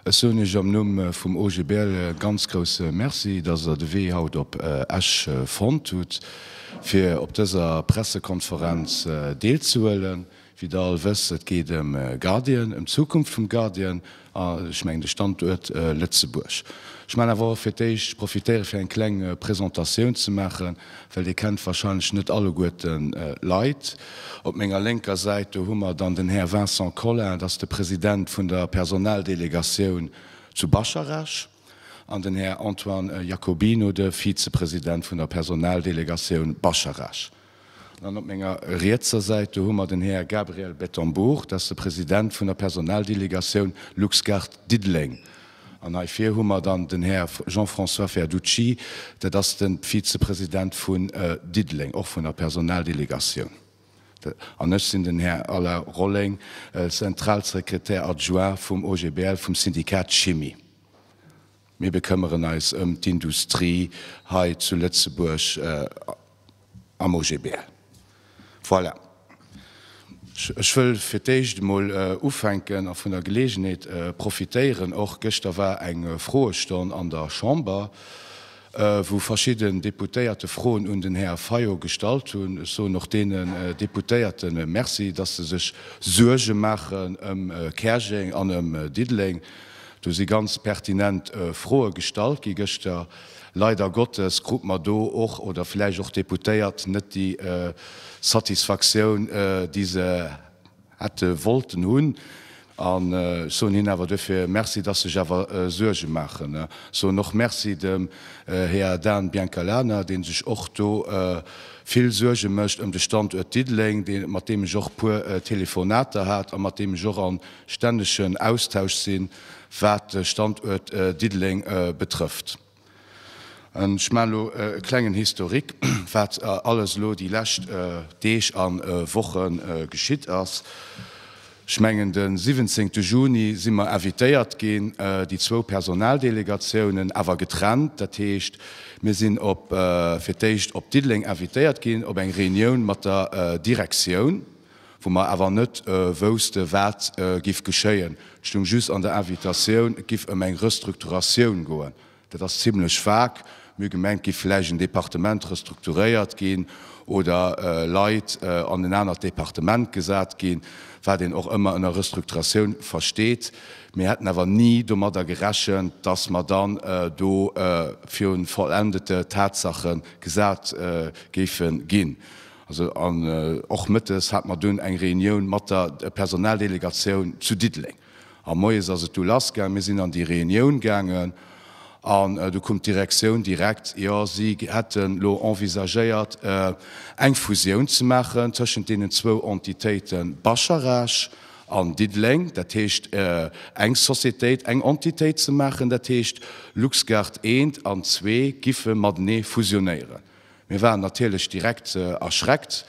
Ech soen Iech am Numm vum OGBL e ganz grousse Merci, dass Der de Wee haut op Esch fonnt hutt, fir op dëser Pressekonferenz deelzehuelen. Wéi der all wësst, et geet ëm Guardian, ëm d'Zukunft vum Guardian a ech mengen de Standuert Lëtzebuerg. Ech man awer och fir d'éischt profitéiere fir eng kleng Presentatioun ze maachen, well dir kennt wahrscheinlech net alleguerte Leit. Op menger lénker Säit do hu mer dann den Här Vincent Colin, dat ass de President vun der Personaldelegatioun zu Bascharech, an den Här Antoine Jacobino, de Vizepresident vun der Personaldelegatioun Bascharech. Dann op menger rietser Säit, do hu mer den Här Gabriel Bettembourg, dat ass de President vun der Personaldelegatioun LuxGuard Diddeleng. An hei vir hu mer dann den Här Jean-François Verducci, dat ass de Vizepresident vun Diddeleng, och vun der Personaldelegatioun. An ech sinn den Här Alain Rolling, Zentralsekretär adjoint vum OGBL, vum Syndikat Chimie. Mir bekëmmeren eis ëm d'Industrie hei zu Lëtzebuerg am OGB. Voilà. Ech wëll fir d'éischt emol ufänken a vun der Geleegenheet profitéieren och. Gëschter war eng Froestonn an der Chamber, wou verschidden Deputéierte Froen un den Här Fayot gestallt hunn. Ech soen och deene Deputéierte Merci, dass se sech Suerge maachen ëm Käerjeng an ëm Diddeleng. Do si ganz pertinent Froe gestallt gi gëschter. Leider Gottes krut mer do och, oder vläicht och d'Deputéiert, net déi Satisfaktioun, déi se hätte wollten hunn. An ech soen hinnen awer duerfir Merci, dass se sech awer Suerge maachen. Ech soen och Merci dem Här Dan Biancalana, dee sech och do vill Suerge mécht ëm de Standuert Diddeleng, mat deem ech och e puer Telefonater hat a mat deem ech och an stännegen Austausch sinn, wat de Standuert Diddeleng betrëfft. Ech maachen elo e klengen Historique, wat alles elo déi lescht Deeg a Woche geschitt ass. Ech mengen, de 17 Juni si mer invitéiert ginn, déi zwou Personaldelegatiounen, awer getrennt. Dat heescht, mir sinn fir d'éischt op Diddeleng invitéiert ginn op eng Reunioun mat der Direktioun. wou mer awer net wousste wat giff geschéien. Et stoung just an der Invitatioun, et giff ëm eng Restrukturatioun goen. Dat ass zimlech vague. Mir hu gemengt, et giff vläicht en Departement restrukturéiert ginn oder Leit an en anert Departement gesat ginn, wat een och ëmmer ënner Restrukturatioun versteet. Mir hätten awer ni domadder gerechent, datt mer dann do virun vollendete Tatsache gesat géife ginn. An och mëttes hate mer dunn eng Reunioun mat der Personaldelegatioun zu Diddeleng. A moies ass et du lass gaangen. Mir sinn an déi Reunioun gaangen an du koum d'Direktioun direkt, jo si hätten elo envisagéiert eng Fusioun ze maachen tëschent deenen zwou Entitéiten Bascharage an Diddeleng. Dat heescht eng Societéit, eng Entitéit ze maachen. Dat heescht Luxgard eent an zwee giffe matenee fusionéieren. Mir waren natierlech direkt erschreckt,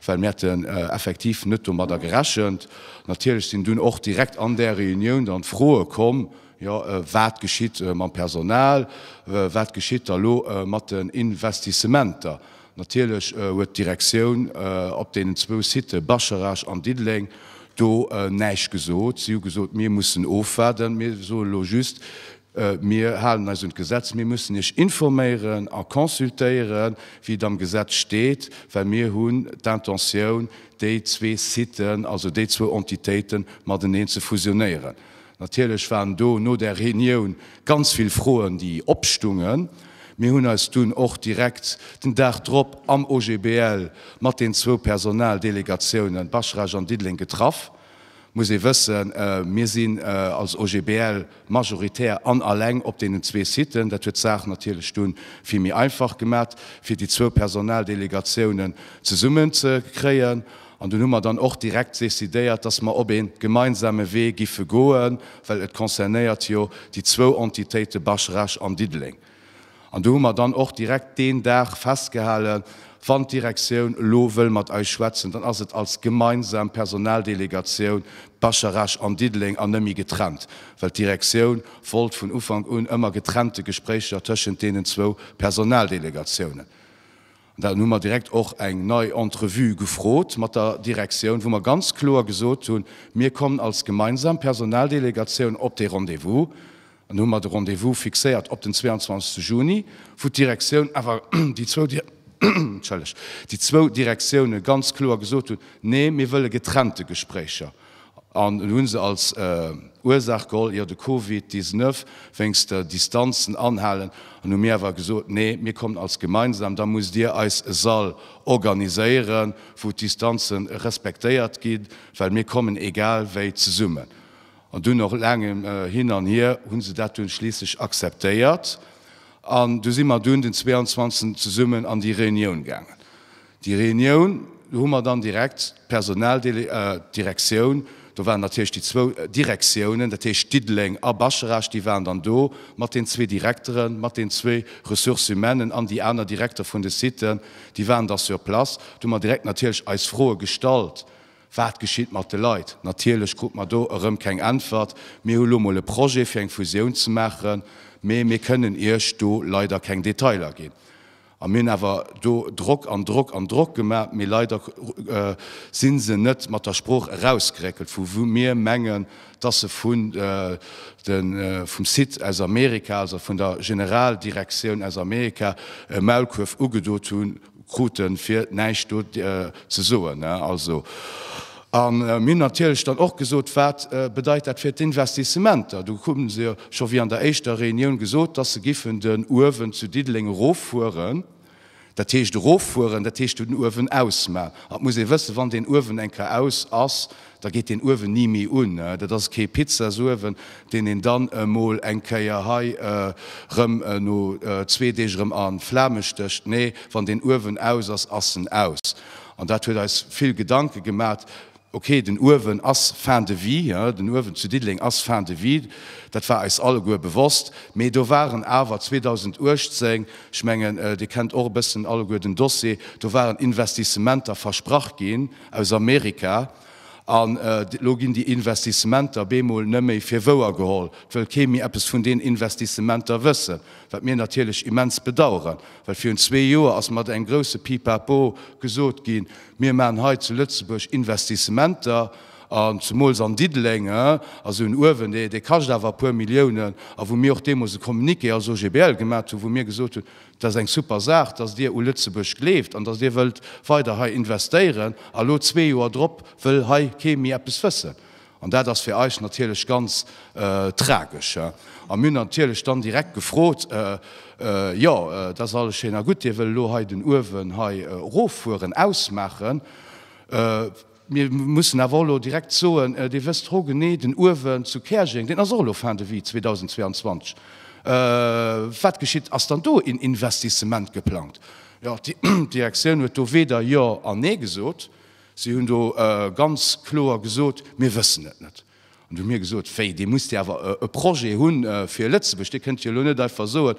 well mir hätten effektiv net domadder gerechent. Natierlech sinn dunn och direkt an där Reunioun dann d'Froe komm, jo wat geschitt mam Personal, wat geschitt da lo mat den Investissementer. Natierlech huet d'Direktioun op deenen zwou Sitë Bascharage an Diddeleng do näischt gesot. Si hu gesot, mir mussen ofwaarden, mir soe lo just, Mir halen eis un d'Gesetz. Mir mussen Iech informéieren a consultéieren, wéi et am Gesetz steet, well mir hunn d'Intentioun, déi zwee Siten, also déi zwou Entitéiten, mateneen ze fusionéieren. Natierlech waren do no där Reunioun ganz vill Froen, déi opstungen. Mir hunn eis dunn och direkt den Dag drop am OGBL mat den zwou Personaldelegatiounen Baschrage an Diddeleng getraff. muss ee wëssen, mir sinn als OGBL majoritär an alleng op deenen zwee Siten. Dat huet d'Saach natierlech du vill méi einfach gemat, fir déi zwou Personaldelegatiounen zesummenzekréien. An dunn hu mer dann och direkt decidéiert, dass mer op ee gemeinsame Wee giffe goen, well et concernéiert jo déi zwou Entitéite Basch-Rech an Diddeleng. An do hu mer dann och direkt deen Dag festgehalen, Wann d'Direktioun elo wëll mat eis schwätzen, dann ass et als gemeinsam Personaldelegatioun Bascharage an Diddeleng an nëmme getrennt, well d'Direktioun wollt vun Ufank un ëmmer getrennte Gespréicher tëschent deenen zwou Personaldelegatiounen. An dann hu mer direkt och eng nei Entrevue gefrot mat der Direktioun, wou mer ganz kloer gesot hunn, mir kommen als gemeinsam Personaldelegatioun op dee Rendez-vous. An du hu mer de Rendez-vous fixéiert op den 22 Juni, wou d'Direktioun awer, déi zwou, entschëllegt, déi zwou Direktioune ganz kloer gesot hunn, nee, mir wëlle getrennte Gespréicher. An elo hu se als Ursaach geholl, jo de Covid 19 wéinst der Distanzen anhalen. An hu mir awer gesot, nee, mir kommen als gemeinsam, da musst Dir eis e Sall organiséieren, wou d'Distanze respektéiert ginn, well mir kommen egal wéi zesummen. An dunn, no laangem Hin an Hier, hu se dat dunn schliisslech akzeptéiert an du si mer dunn den 22 zesummen an déi Reunioun gaangen. Déi Reunioun, do hu mer dann direkt d'Personaldele, d'Direktioun, do waren natierlech déi zwou Direktiounen, dat heescht Diddeleng a Bascherasch, déi waren dann do mat den zwee Direkteren, mat den zwee Ressources humaines'en an déi aner Direkter vun de Siten, déi waren da sur place. Do hu mer direkt natierlech eis Froe gestallt, Wat geschitt mat de Leit? Natierlech krut mer do erëm keng Äntwert, Mir hu lo mol e Projet fir eng Fusioun ze maachen, mee mir kënnen Iech do leider keng Detailer ginn. A mir hunn awer do Drock an Drock an Drock gemaach, mee leider si se net mat der Sprooch erausgeréckelt, vu wou mir mengen, dass se vun de vum Site aus Amerika, also vun der Generaldirektioun aus Amerika e Maulkuerf ugedo krute fir näischt do ze soen. A mir hunn natierlech dann och gesot, wat bedeit dat fir d'Investissementer. Do hu se jo scho wéi an der éischter Reunioun gesot, dass se giffen den Uewen zu Diddeleng eroffueren. Dat heescht eroffueren, dat heescht den Uewen ausmachen. An et muss ee wëssen, wann deen Uewen eng Kéier aus ass, da geet deen Uewen ni méi un. Dat ass kee Pizzasowen, deen een dann emol eng Kéier hei erëm no zwee Deeg erëm a Flame stécht. Nee, wann deen Uewen aus ass, ass en aus. An dat huet eis vill Gedanke gemat. Ok, den Uewen ass fin de vie, den Uewen zu Diddeleng ass fin de vie, dat war eis alleguer bewosst. Mee do waren awer 2018, ech mengen, Dir kennt och e bëssen alleguer den Dossier, do waren Investissementer versprach ginn aus Amerika. An elo ginn déi Investissementer bemol net méi fir wouer geholl, 't wëll kee méi eppes vun deenen Investissementer wëssen. Wat mir natierlech immens bedauern, well virun zwee Joer ass mat engem grousse Pipapo gesot ginn, mir maachen hei zu Lëtzebuerg Investissementer, an zemools an Diddeleng, also en Uewen, dee, dee kascht awer e puer Milliounen, a wou mir och deemools e Communiqué als OGBL gemat hunn, wou mir gesot hunn, dat ass eng super Saach, datt Dir u Lëtzebuerg gleeft an datt Dir wëllt weider hei investéieren, a lo zwee Joer drop wëll hei kee méi eppes wëssen. An dat ass fir eis natierlech ganz tragesch. A mir hunn natierlech dann direkt gefrot, Jo, dat ass alles schéin a gutt, Dir wëll elo hei den Uewen hei eroffueren, ausmaachen. Mir mussen awer och elo direkt soen, Dir wësst hogenee, den Uewen zu Käerjeng, deen ass och elo fin de vie 2022. Wat geschitt? Ass dann do een Investissement geplangt? Jo, d'Direktioun huet do weder Jo an Nee gesot. Si hunn do ganz kloer gesot, Mir wëssen et net. An du hu mir gesot, Wéi, Dir musst jo awer e Projet hu fir Lëtzebuerg, Dir kënnt jo elo net einfach soen,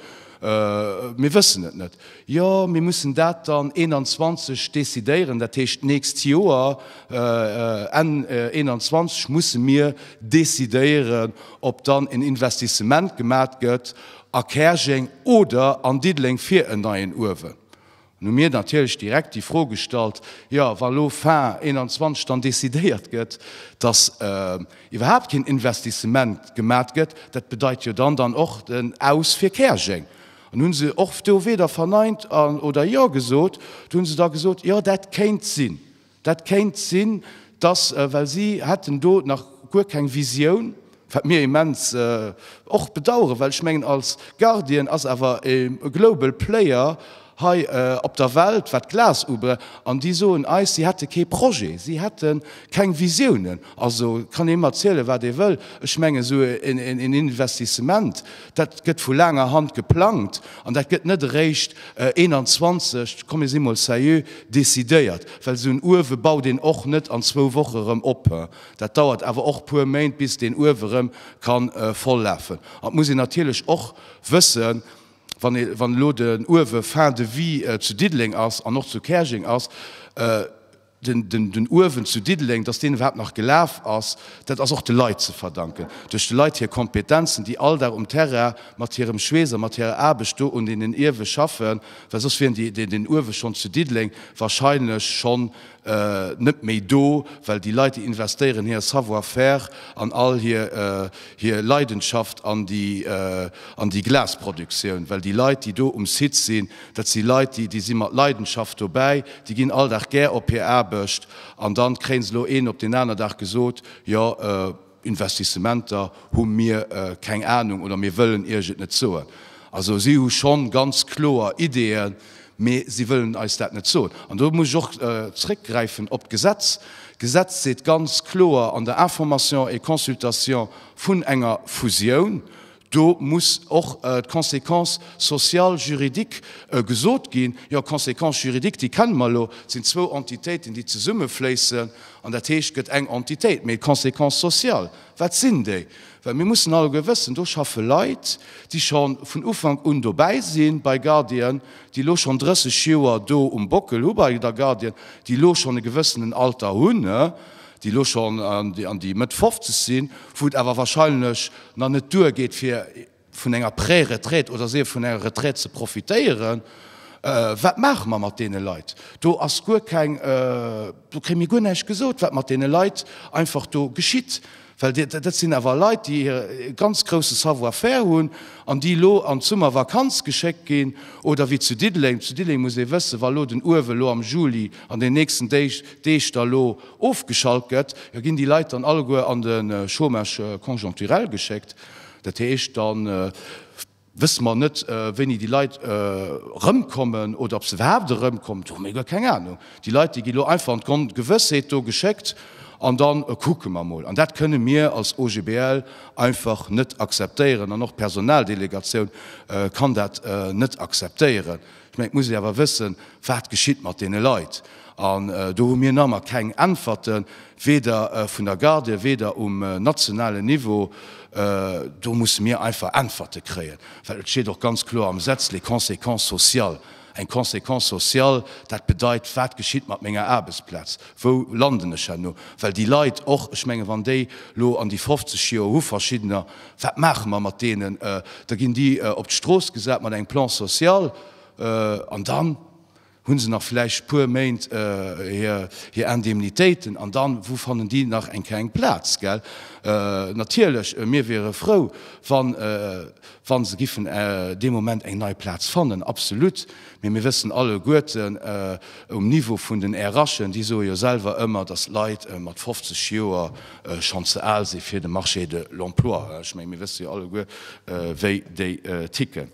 Mir wëssen et net. Jo, mir mussen dat dann 21 decidéieren, dat heescht d'nächst Joer, Enn 21 musse mir decidéieren, ob dann en Investissement gemat gëtt a Käerjeng oder an Diddeleng fir en neien Uewen. An hu mir natierlech direkt déi Fro gestallt, jo wa lo fin 2021 dann decidéiert gëtt, datt iwwerhaapt keen Investissement gemat gëtt, dat bedeit jo dann dann och den Aus fir Käerjeng. An hu se och do weder verneint oder jo gesot. Do hu se da gesot, jo dat kéint sinn. Dat kéint sinn, dass, well si hätten do nach guer keng Visioun, wat mir immens och bedauern, well ech mengen, als Guardian ass awer e global player hei op der Welt, wat Glas ubelangt, an déi soen eis, si hätte kee Projet, si hätte keng Visiounen. Also, et kann ee mer erzielen, wat ee wëll, ech mengen, esou en Investissement, dat gëtt vu laanger Hand geplangt an dat gëtt net eréischt 21, komm mir si mol seriö, decidéiert. Well esou en Uewe baut een och net an zwou Woche erëm op. Dat dauert awer och e puer Méint, bis deen Uewe erëm ka voll lafen. An et muss een natierlech och wëssen, wann elo den Uewe fin de vie zu Diddeleng ass an och zu Käerjeng ass, Den Uewen zu Diddeleng, datt deen iwwerhaapt nach gelaf ass, dat ass och de Leit ze verdanken, duerch de Leit hir Kompetenzen, déi all Dag um Terrain mat hirem Schweess a mat hirer Aarbecht do un deenen Uewe schaffen, well soss wier deen Uewe schonn zu Diddeleng wahrscheinlech schonn net méi do, well déi Leit, déi investéieren hir Savoir-faire an all hir Leidenschaft an déi Glasproduktioun, well déi Leit, déi do um Site sinn, Dat si Leit, déi déi si mat Leidenschaft dobäi, déi ginn all Dag gär op hir Aarbecht an dann kréien se elo een op deen aner Dag gesot, jo Investissementer hu mir keng Ahnung oder mir wëllen iech et net soen. Also si hu schonn ganz kloer Ideeën, mee si wëllen eis dat net soen. An do muss ech och zréckgräifen op d'Gesetz. D'Gesetz seet ganz kloer an der Information et consultation vun enger Fusioun, Do muss och d'Conséquence sociale, juridique gesot ginn. Jo, d'Conséquence juridique, déi kenne mer elo. Et sinn zwou Entitéiten, déi zesummefléissen, an dat heescht, et gëtt eng Entitéit. Mee d'Conséquence sociale, wat sinn déi? Well mir mussen alleguer wëssen, do schaffe Leit, déi scho vun Ufank un dobäi sinn bei Guardian, déi elo schonn 30 Joer do um Bockel hu bei der Guardian, déi elo schonn e gewëssenen Alter hunn. déi elo schonn an déi Mëtt 50 sinn, wou et awer wahrscheinlech nach net duergeet fir vun enger Pré-Retraite oder souguer vun enger Retraite ze profitéieren, wat maache mer mat deene Leit? Do ass guer keng, do kréie mir guer näischt gesot, wat mat deene Leit einfach do geschitt. Well dat sinn awer Leit, déi e ganz grousse Savoir-faire hunn an déi elo an d'Summervakanz geschéckt ginn. Oder wéi zu Diddeleng, zu Diddeleng muss ee wëssen, wa elo den Uewe lo am Juli an den nächsten Déich, Deeg da lo ofgeschalt gëtt, jo ginn déi Leit dann alleguer an de Chômage conjoncturel geschéckt. Dat heescht dann. Wësse mer net, wéini déi Leit erëmkommen oder ob se iwwerhaapt erëmkommen. Do hu mir guer keng Anung. Déi Leit, déi gi lo einfach an d'Ongewëssheet do geschéckt an dann kucke mer emol. An dat kënne mir als OGBL einfach net akzeptéieren an och d'Personaldelegatioun kann dat net akzeptéieren. Ech mengen, et muss ee awer wëssen, wat geschitt mat deene Leit. An do hu mir nammer keng Äntwerten, weder vun der Garde, weder um nationalen Niveau. Do musse mir einfach Äntwerte kréien, well et steet och ganz kloer am Gesetz, les conséquences sociales. Eng Conséquence sociale, dat bedeit, wat geschitt mat menger Aarbechtsplaz, wou landen ech herno? Well déi Leit och, ech mengen, wann déi elo an déi 50 Joer hu verschiddener Wat maache mer mat deenen? Da ginn déi op d'Strooss gesat mat engem Plan social an dann hu se nach vläicht puer Méint hir Indemnitéiten an dann, wou fannen déi nach eng Kéier eng Plaz? Gell? Natierlech, mir wiere frou, wa se giffen dee Moment eng nei Plaz fannen, absolut. Mee mir wëssen alleguerten um Niveau vun den RHen, déi soe jo selwer ëmmer, datt Leit mat 50 Joer, schonn ze al si fir de Marché de l'emploi. Ech menge mir wësse jo alleguer, wéi déi ticken.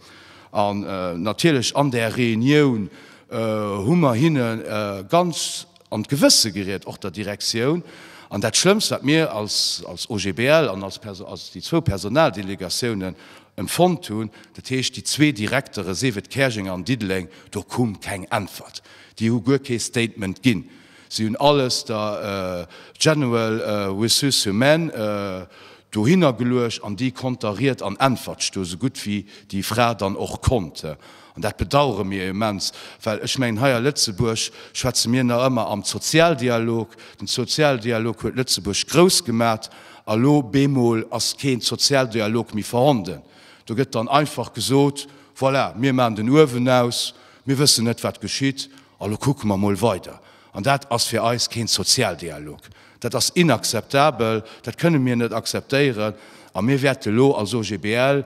An natierlech an där Reunioun hu mer hinne ganz an d'Gewësse geriet, och der Direktioun. An dat Schlëmmst, wat mir als OGBL an als déi zwou Personaldelegatiounen empfonnt hunn, dat heescht déi zwee Direktere, sief et Käerjeng an Diddeleng, do koum keng Äntwert. Déi hu guer kee Statement ginn. Si hunn alles der General Ressources-Humaines dohinner geluecht an déi konnt da Ried an Äntwert stoen, esou gutt wéi déi Fra dann och konnt. An dat bedauere mir immens, well ech mengen, hei a Lëtzebuerg schwätze mir nach ëmmer am Zozialdialog. Den Zozialdialog huet Lëtzebuerg grouss gemat a lo bemol ass keen Zozialdialog méi vorhanden. Do gëtt dann einfach gesot, Voilà, mir maachen den Uewen aus, mir wëssen net, wat geschitt An elo kucke mer emol weider. An dat ass fir eis keen Sozialdialog. Dat ass inakzeptabel, dat kënne mir net akzeptéieren. A mir wäerte elo als OGBL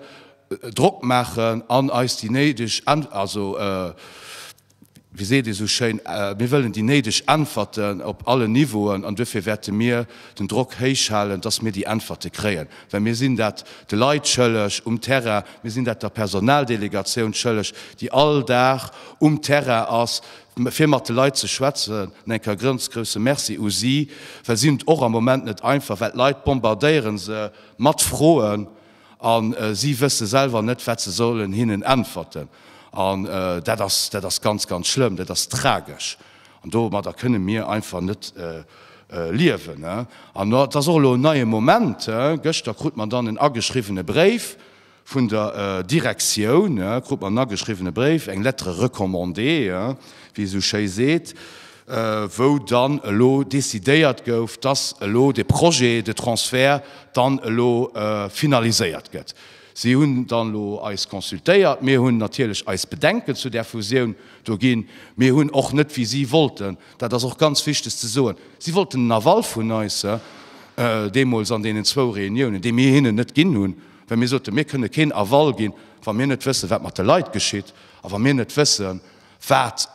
Drock maachen an eis déi néideg, also wéi seet ee sou schéin, mir wëllen déi néideg Äntwerten op allen Niveauen. An duerfir wäerte mir den Drock héich halen, dass mir déi Äntwerte kréien. Well mir sinn dat de Leit schëlleg um Terrain, mir sinn dat der Personaldelegatioun schëlleg, déi all Dag um Terrain ass, fir mat de Leit ze schwätzen. An eng Kéier e ganz grousse Merci u si, well si hunn et och am Moment net einfach, well d'Leit bombardéiere se mat Froen a si wësse selwer net, wat se sollen hinnen äntwerten. An dat ass, dat ass ganz, ganz schlëmm, dat ass tragesch. An domadder kënne mir einfach net liewen. An dat ass och elo en neie Moment. Gëschter krut mer dann en ageschriwwene Bréif vun der Direktioun, krut mer en ageschriwwene Bréif, eng Lettre recommandée, wéi ee sou schéi seet, wou dann elo decidéiert gouf, dass elo de Projet de Transfert dann elo finaliséiert gëtt. Si hunn dann elo eis consultéiert. Mir hunn natierlech eis Bedenken zu där Fusioun do ginn. Mir hunn och net, wéi si wollten, dat ass och ganz wichteg ze soen, si wollten den Aval vun eis deemools an deenen zwou Reuniounen, dee mir hinnen net ginn hunn, well mir soten, mir kënne keen Aval ginn, wa mir net wëssen, wat mat de Leit geschitt a wa mir net wëssen, Wat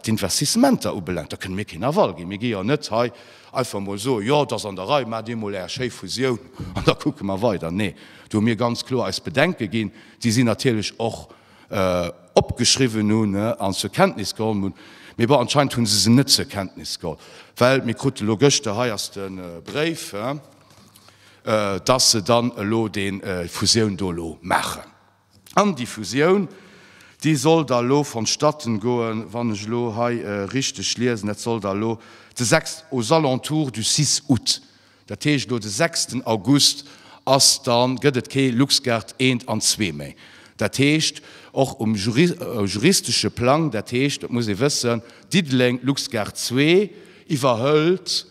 d'Investissementer ubelaangt, da kënne mir keen Aval ginn. Mir gi jo net hei einfach emol soen, Jo, et ass an der Rei, maacht dir emol Är schéi Fusioun an da kucke mer weider. Nee, do hu mir ganz kloer eis Bedenke ginn, déi si natierlech och opgeschriwwen hunn an zur Kenntnis geholl hunn. Mee bon, anscheinend hu se se net zur Kenntnis geholl, well mir krute elo gëschter, hei ass de Bréif, dass se dann elo déi Fusioun do elo maachen. An déi Fusioun, déi soll da lo vonstatten goen, wann ech elo hei richteg liesen, dat soll da lo de 6, aux alentours du 6 août, dat heescht elo de sechsten August ass da gëtt et kee LuxGuard eent an zwee méi. Dat heescht och um juristesche Plang, dat heescht, dat muss ee wëssen, Diddeleng LuxGuard zwee iwwerhëlt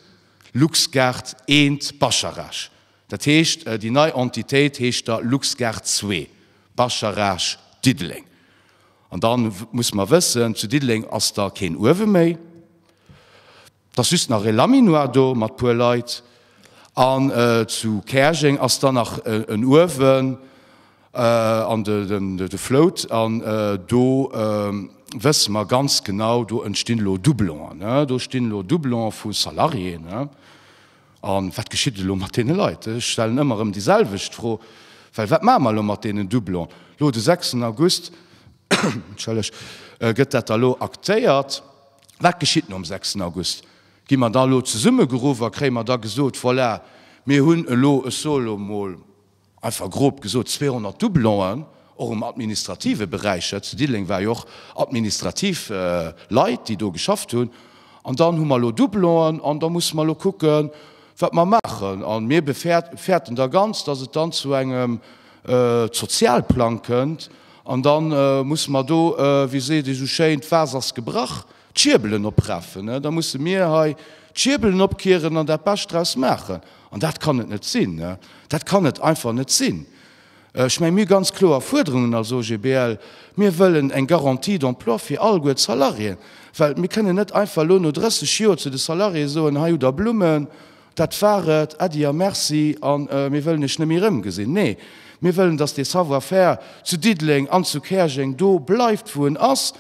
LuxGuard eent Bascharage. Dat heescht, déi nei Entitéit heescht da LuxGuard zwee, Bascharage Diddeleng. An da muss mer wëssen, zu Diddeleng ass da keen Uewe méi, et ass just nach e Laminoir do mat puer Leit. An zu Käerjeng ass da nach en Uewen an de Float. An do wësse mer ganz genau, do entstinn elo Doublongen, do stinn elo Doublonge vu Salariéen. A wat geschitt elo mat deene Leit? Ech stellen ëmmer erëm déi selwecht Fro, well wat maache mer elo mat deenen Doublone? Lo de 6 en August, entschëlleg, gëtt dat da lo aktéiert. Wat geschitt nom 6 en August? Gi mer da elo zesummegeruff a kréie mer da gesot, voilà, mir hunn elo, ech soe lo mol, Einfach grob gesot 200 Doublon'en, och um administrative Beräich. Hei zu Diddeleng war jo och administrativ Leit, déi do geschafft hunn. An dann hu mer elo Doublon'en an da musse mer elo kucken, wat mer maachen. A mir befäerten da ganz, dass et dann zu engem Sozialplang kënnt. An da musse mer do, wéi seet ee esou schéin, d'Was ass gebrach. D'Schierbelen opraffen, da musse mir hei d'Schierbelen opkieren an dat Bescht draus maachen. An dat kann et net sinn. Dat kann et einfach net sinn. Ech mengen, mir hu ganz kloer Fuerderungen als OGBL. Mir wëllen eng Garantie d'emploi fir alleguer d'Salariéen. Well mir kënnen net einfach elo no 30 Joer zu de Salariéeë soen, hei hutt Der Blummen, Dat war et, Äddi a Merci a mir wëllen Iech net méi erëmgesinn. Nee, mir wëllen, datt dee Savoir-faire zu Diddeleng an zu Käerjeng do bleift, wou en ass,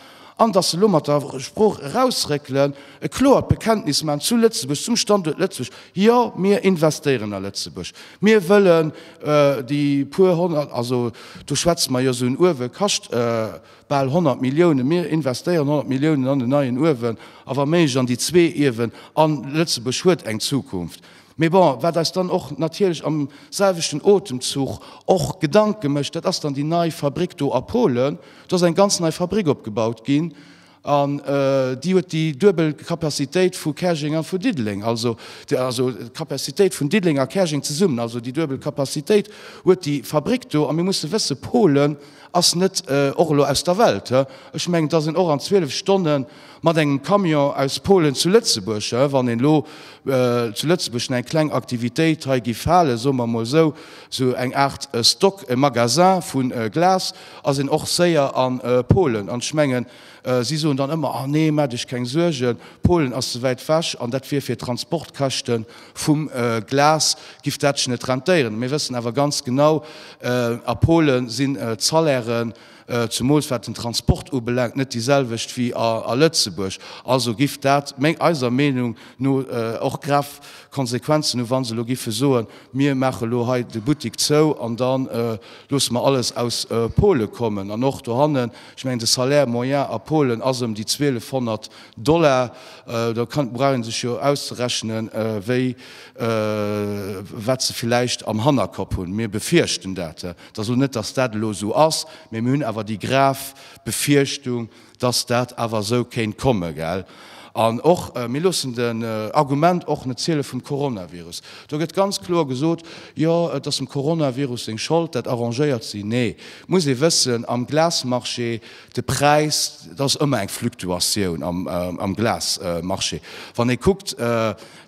an datt se elo mat der Sprooch erausréckelen, e kloert Bekenntnis maachen zu Lëtzebuerg, zum Standuert Lëtzebuerg, Jo, mir investéieren a Lëtzebuerg, mir wëllen déi puer honnert, also do schwätze mer jo esou en Uewe kascht Bal 100 Milliounen, mir investéieren 100 Milliounen an en neien Uewen a wa méiglech an déi zwee Iewen a Lëtzebuerg huet eng Zukunft. Mee bon, wat eis dann och natierlech am selwechten Otemzuch och Gedanke mécht, dat ass dann déi nei Fabrick do a Polen. Do ass eng ganz nei Fabrick opgebaut ginn an déi huet déi duebel Capacitéit vu Käerjeng a vu Diddeleng, also d'Capacitéit vun Diddeleng a Käerjeng zesummen, also déi duebel Capacitéit huet déi Fabrick do. A mir musse wëssen, Polen, ass net och elo aus der Welt. Ech mengen, dass een och an 12 Stonne mat engem Camion aus Polen zu Lëtzebuerg, wann een elo zu Lëtzebuerg eng kleng Aktivitéit hei giff halen, soe mer emol esou, esou eng Aart Stock, e Magasin vu Glas, ass een och séier a Polen. An ech mengen, Si soen dann ëmmer, Ah nee, maacht Iech keng Suergen, Polen ass ze wäit ewech an dat wier fir d'Transportkäschte vum Glas giff dat sech net rentéieren. Mir wëssen awer ganz genau, A Pole sinn d'Salairen, zemools wat den Transport ubelaangt, net déi selwecht wéi a Lëtzebuerg. Also giff dat eiser Meenung no och grav Konsequenzen hu wa se elo giffe soen, Mir maache elo hei de Buttik zou an da loosse mer alles aus Pole kommen. An och dohanne Ech mengen, de Salaire moyen a Polen ass ëm déi 1200 Dollar. Da brauch ee sech jo auszerechnen, wéi, wat se villäicht am Hannerkopp hunn. Mir befierchten dat. Et ass elo net, datt dat elo esou ass, mee mir hunn awer déi grav Befierchtung, datt dat awer esou kéint kommen, gell. An och, mir loossen den Argument och net ziele vum Coronavirus. Do gëtt ganz kloer gesot, jo et ass dem Coronavirus seng Schold, dat arrangéiert si. Nee, et muss ee wëssen, am Glasmarché, de Präis, et ass ëmmer eng Fluktuatioun am Glasmarché. Wann ee kuckt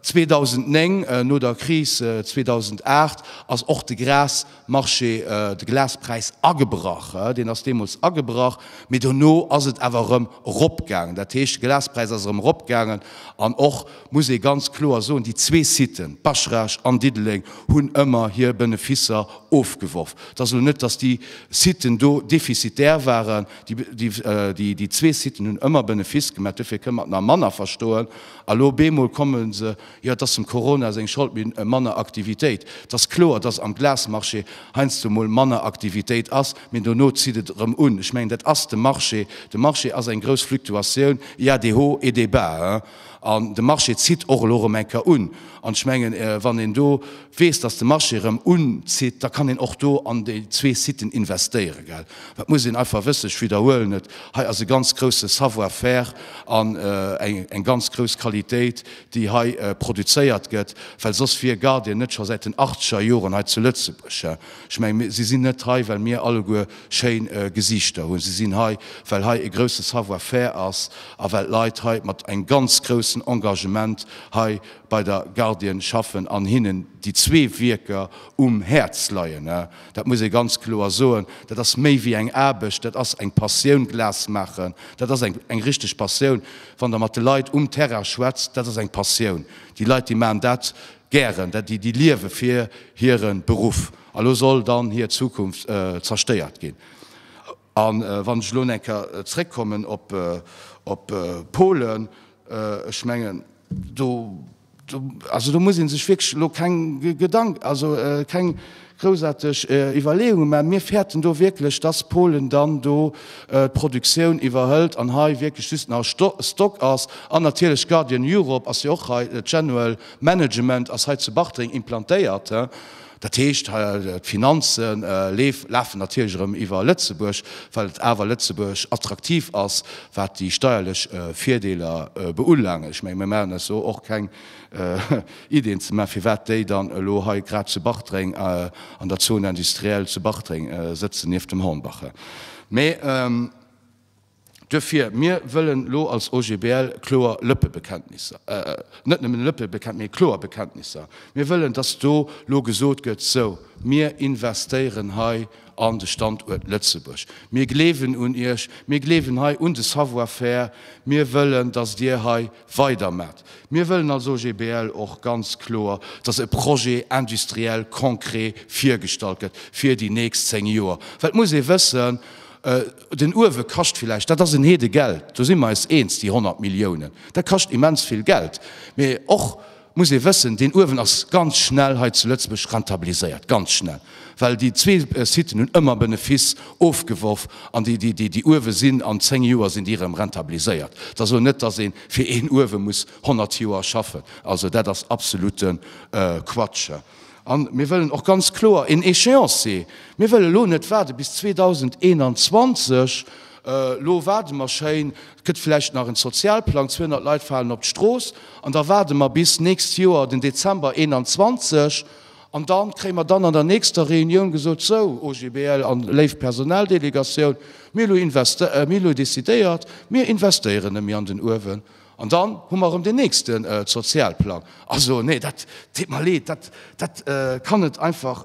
2009, no der Kris 2008, ass och de Gras, Marché de Glaspräis agebrach. Deen ass deemools agebrach, mee dono ass et awer erëm eropgaangen. Dat heescht, de Glaspräis ass erëm eropgaangen an och, muss ee ganz kloer soen, déi zwee Siten, Baschrage an Diddeleng, hunn ëmmer hir Beneficer ofgeworf. Et ass elo net, datt déi Siten do defizitär waren. Déi zwee Siten hunn ëmmer Benefice gemaach, dofir kënnt mat nach manner verstoen. A lo bemol komme se Jo, et ass dem Corona seng Schold, mee manner Aktivitéit. Et ass kloer, dass am Glasmarché heiansdo emol manner Aktivitéit ass, mee dono zitt et erëm un. Ech mengen, dat ass de Marché. De Marché ass eng grouss Fluktuatioun, il y a des hauts et des bas. An de Marché zitt och elo erëm eng Kéier un. An ech mengen, wann een do weess, dass de Marché erëm unzitt, da kann een och do an déi zwee Siten investéieren. Dat muss een einfach wëssen. Ech widderhuelen et, hei ass e ganz grousse Savoir-faire an eng ganz grouss Qualitéit, déi hei produzéiert gëtt, well soss wier Guardian net scho säit den achtzeger Joren hei zu Lëtzebuerg. Ech mengen, si sinn net hei, well mir alleguer schéin Gesiichter hunn. Si sinn hei, well hei e grousse Savoir-faire ass a well d'Leit hei mat engem ganz groussen Engagement hei bei der Guardian schaffen an hinnen déi zwee Wierker um Häerz leien. Dat muss ee ganz kloer soen. Dat ass méi wéi eng Aarbecht, dat ass eng Passioun. Glas maachen, dat ass eng richteg Passioun. Wann Der mat de Leit um Terrain schwätzt, dat ass eng Passioun. Déi Leit, déi maachen dat gären, dat, déi liewe fir hire Beruff. A lo soll dann hir Zukunft zerstéiert ginn. A wann ech elo no eng Kéier zréckkommen op Polen, ech mengen, do Also do muss ee sech wierklech elo keng Gedanken, also keng groussaarteg Iwwerleeunge maachen. Mir fäerten do wierklech, dass Polen dann do d'Produktioun iwwerhëlt an hei wierklech just nach e Stock ass. An natierlech Guardian Europe ass jo och hei, General Management ass hei zu Bartreng implantéiert. Dat heescht, d'Finanze lafen natierlech erëm iwwer Lëtzebuerg, well awer Lëtzebuerg attraktiv ass, wat déi steierlech Virdeeler beulaange. Ech menge mir maachen eis do och keng Iddien ze maachen, firwat déi dann elo hei grad zu Bartreng an der Zone industrielle zu Bartreng sëtzen nieft dem Hornbache. Mee. Duerfir, mir wëllen elo als OGBL kloer Lëppebekenntnisser, net nëmmen Lëppebekenntnisser, mee kloer Bekenntnisser, mir wëllen, dass do elo gesot gëtt, Sou, mir investéieren hei an de Standuert Lëtzebuerg, mir gleewen un Iech, mir gleewen hei un de Savoir-faire, mir wëllen, dass Dir hei weidermaacht. Mir wëllen als OGBL och ganz kloer, dass e Projet industriel konkret virgestallt gëtt fir déi nächst zéng Joer, well et muss ee wëssen, Den Uewe kascht villäicht, dat ass en Heede Geld, do si mer eis eens, déi 100 Milliounen, dat kascht immens vill Geld. Mee och muss ee wëssen, deen Uewen ass ganz schnell hei zu Lëtzebuerg rentabiliséiert, ganz schnell, well déi zwee Siten hunn ëmmer Benefiss ofgeworf an déi Uewe sinn an zéng Joer sinn déi erëm rentabiliséiert. Et ass elo net, dass ee fir een Uewe muss 100 Joer schaffen. Also dat ass absolutte Quatsch. A mir wëllen och ganz kloer een Échéancier. Mir wëlle elo net waarde bis 2021, elo waarde mer schéin, et gëtt vläicht nach en Sozialplang, 200 Leit falen op d'Strooss, an da waarde mer bis nächst Joer den Dezember 21 an da kréie mer dann an der nächster Reunioun gesot, Sou, OGBL a léif Personaldelegatioun, mir hu elo decidéiert, mir investéieren nemme an den Uewen. An dann hu mer erëm deen nächste Sozialplang. Also, nee, dat deet mer leed, dat kann et einfach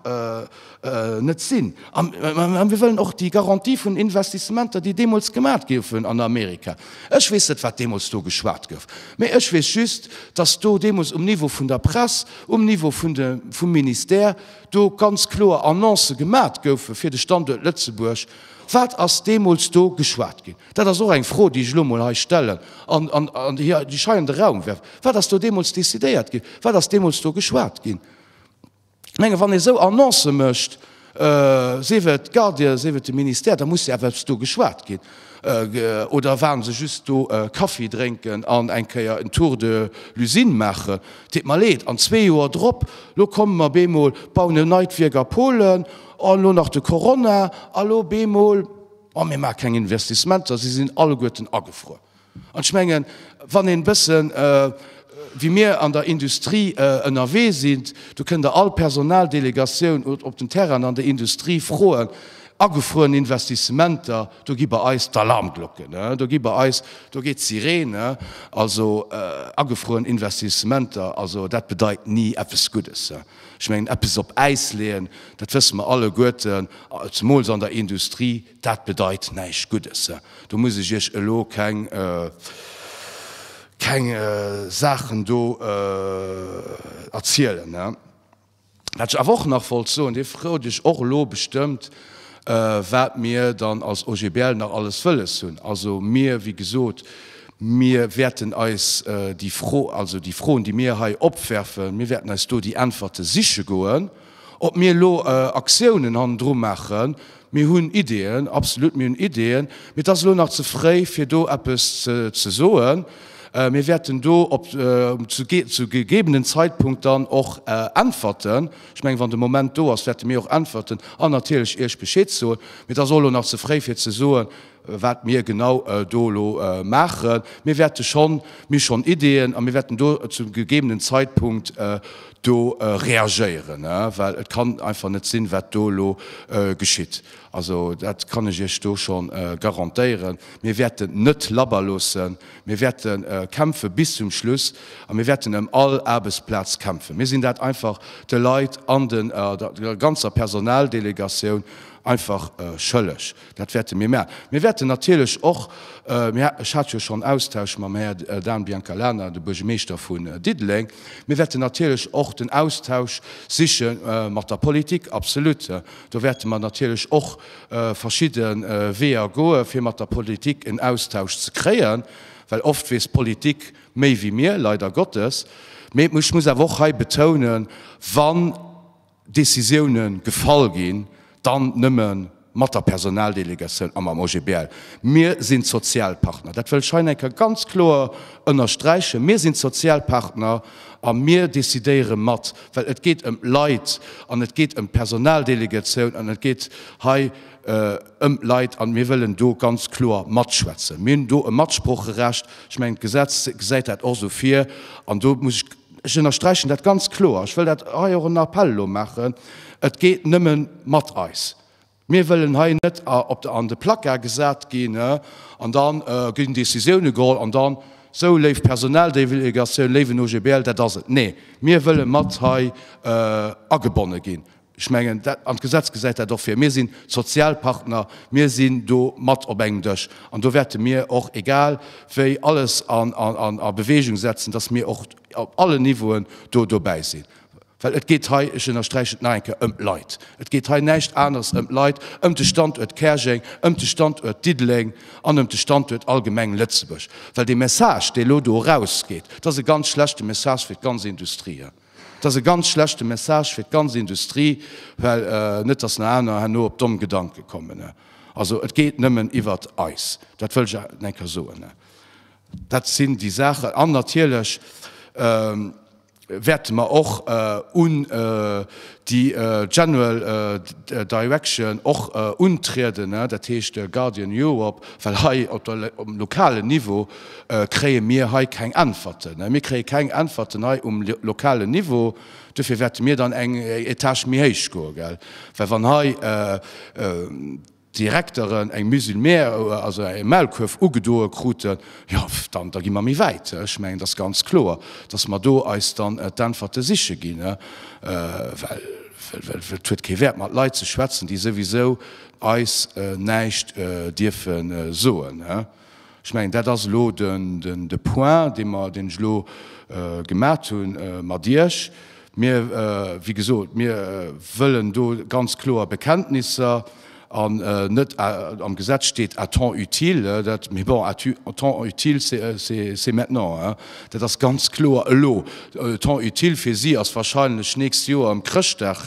net sinn. A mir wëllen och déi Garantie vun Investissementer, déi deemools gemat goufen an Amerika, ech weess net, wat deemools do geschwat gouf, mä ech weess just, dass do deemools um Niveau vun der Press, um Niveau vum Ministère do ganz kloer Annoncë gemat goufen fir de Standuert Lëtzebuerg. Wat ass deemools do geschwat ginn? Dat ass och eng Fro, déi ech elo emol hei stellen an déi ech hei an de Raum werf. Wat ass do deemools decidéiert ginn? Wat ass deemools do geschwat ginn? Ech menge wann ee esou Annoncë mécht, sief et d'Gardies, sief et de Ministère, da muss jo eppes do geschwat ginn. Oder waren se just do Kaffi drénken an eng Kéier en Tour de l'usine maachen? Et deet mer leed. An zwee Joer drop, elo komme mer bemol, bauen e neit Wierk a Polen, an elo nach de Corona, a elo bemol. Oh, mir maache keng Investissementer, se sinn alleguerten agefruer. An ech mengen, wann een e bësse wéi mir an der Industrie ënnerwee sinn, do kënnt Der all Personaldelegatioun op den Terrainen an der Industrie froen, agefrueren Investissementer, do gi bei eis d'Alarmglocken, do gi bei eis, do geet d'Sirene. Also, agefrueren Investissementer, also dat bedeit ni eppes Guddes. Ech mengen, eppes op Äis leeën, dat wësse mer alleguerten, zemools an der Industrie, dat bedeit näischt Guddes. Do muss ech Iech elo keng, keng Saachen do erzielen. Wat ech awer och nach wollt soen, Dir freet Iech och elo bestëmmt, wat mir dann als OGBL nach alles wëlles hunn. Also mir, wéi gesot, mir wäerten eis déi Fro, also déi Froen, déi mir hei opwerfen, mir wäerten eis do déi Äntwerte siche goen. Ob mir elo Aktiounen hannendru maachen, mir hunn Ideeën, absolut, mir hunn Ideeën, mee et ass elo nach ze fréi, fir do eppes ze soen. Mir wäerten do op zu gegebenen Zeitpunkt dann och Äntwerten Ech mengen, wann de Moment do ass, wäerte mir och äntwerten an natierlech Iech Bescheed soen. Mee et ass och elo nach ze fréi fir ze soen, wat mir genau do elo maachen. Mir wäerte schonn, mir schonn Ideeën a mir wäerten do zum gegebenen Zeitpunkt do reagéieren, well et kann einfach net sinn, wat do elo geschitt. Also dat kann ech Iech do scho garantéieren. Mir wäerten net labber loossen, Mir wäerte kämpfe bis zum Schluss a mir wäerten ëm all Aarbechtsplaz kämpfen. Mir sinn dat einfach de Leit an de, der ganzer Personaldelegatioun einfach schëlleg. Dat wäerte mir maachen. Mir wäerten natierlech och, mir, ech hat jo schonn Austausch mam Här Dan Biancalana, de Buergermeeschter vun Diddeleng, mir wäerten natierlech och den Austausch siche mat der Politik, absolut. Do wäerte mer natierlech och verschidde Weeër goe fir mat der Politik en Austausch ze kréien, well oft weess d'Politik méi wéi mir, leider Gottes. Mee ech muss awer och hei betounen, wann Décisioune gefall ginn, dann nëmme mat der Personaldelegatioun a mam OGBL. Mir sinn d'Sozialpartner, dat wëll ech hei nach eng Kéier ganz kloer ënnersträichen, mir sinn d'Sozialpartner a mir decidéiere mat. Well et geet ëm Leit an et geet ëm d'Personaldelegatioun an et geet hei ëm Leit a mir wëllen do ganz kloer matschwätzen. Mir hunn do e Matsprocherecht. Ech mengen, d'Gesetz gesäit dat och esou vir. An do muss ech, ech ënnersträichen dat ganz kloer, ech wëll dat hei och en Appell elo maachen, Et geet nëmme mat eis. Mir wëllen hei net an de Placard gesat ginn an da ginn Décisioune geholl an dann, Sou, léif Personaldelegatioun, léiwen OGBL, dat ass et. Nee, mir wëlle mat hei agebonne ginn. Ech mengen, an d'Gesetz gesäit dat och vir. Mir sinn d'Sozialpartner, mir sinn do mat op engem Dësch an do wäerte mir och egal wéi alles a Beweegung setzen, datt mir och op allen Niveauen do dobäi sinn. Well et geet hei, ech ënnersträichen et nach eng Kéier, ëm d'Leit. Et geet hei näischt aneres ëm d'Leit, ëm de Standuert Käerjeng, ëm de Standuert Diddeleng an ëm de Standuert allgemeng Lëtzebuerg. Well dee Message, dee elo do erausgeet, dat ass e ganz schlechte Message fir d'ganz Industrie. Dat ass e ganz schlechte Message fir d'ganz Industrie, well net datt nach aner herno op domm Gedanke kommen. Also et geet nëmmen iwwert eis, dat wëll ech awer nach eng Kéier soen. Dat sinn déi Saachen. An natierlech, wäerte mer och un déi General Direction och untrieden, dat heescht Guardian Europe, well hei op der lokalen Niveau kréie mir hei keng Äntwerten. Mir kréie keng Äntwerten hei um lokalen Niveau. Dofir wäerte mir dann eng Etage méi héich goen, well wann hei Direkteren eng Mise en mer, also e Maulkuerf ugedoe kruten, jo dann da gi mer méi wäit. Ech mengen, et ass ganz kloer, datt mer do eis dann d'Äntwerte siche ginn, well et huet kee Wäert mat Leit ze schwätzen, déi souwisou eis näischt dierfe soen. Ech mengen, dat ass elo de Point, dee mer, deen ech elo gemat hu mat Iech. Mir, wéi gesot, mir wëllen do ganz kloer Bekenntnisser an net, am Gesetz steet à temps utile, dat, mee bon, à temps utile, c'est maintenant, dat ass ganz kloer elo. Temps utile fir si ass wahrscheinlech d'nächst Joer ëm Chrëschtdag,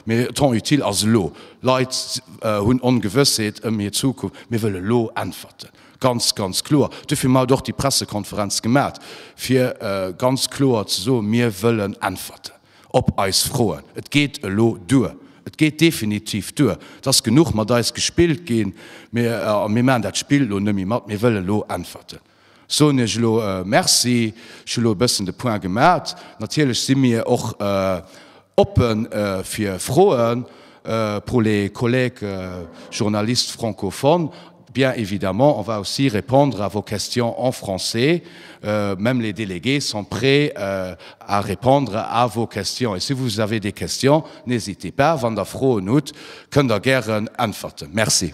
mee temps utile ass elo. Leit hunn Ongewëssheet ëm hir Zukunft. Mir wëlle elo Äntwerten, ganz, ganz kloer. Dofir hu mer haut och déi Pressekonferenz gemaat, fir ganz kloer ze soen, Mir wëllen Äntwerten op eis Froen. Et geet elo duer. Et geet definitiv duer. Et ass genuch mat eis gespillt ginn. Mir maachen dat Spill elo net méi mat. Mir wëlle elo Äntwerten. Soen iech elo Merci. Ech hu elo e bëssen de Point gemat. Natierlech si mir och oppe fir Froen pour les collègues journalistes francophones. Bien évidemment, on va aussi répondre à vos questions en français. Même les délégués sont prêts à répondre à vos questions. Et si vous avez des questions, n'hésitez pas, wann Der Froen hutt, kënnt Der gären äntwerten. Merci.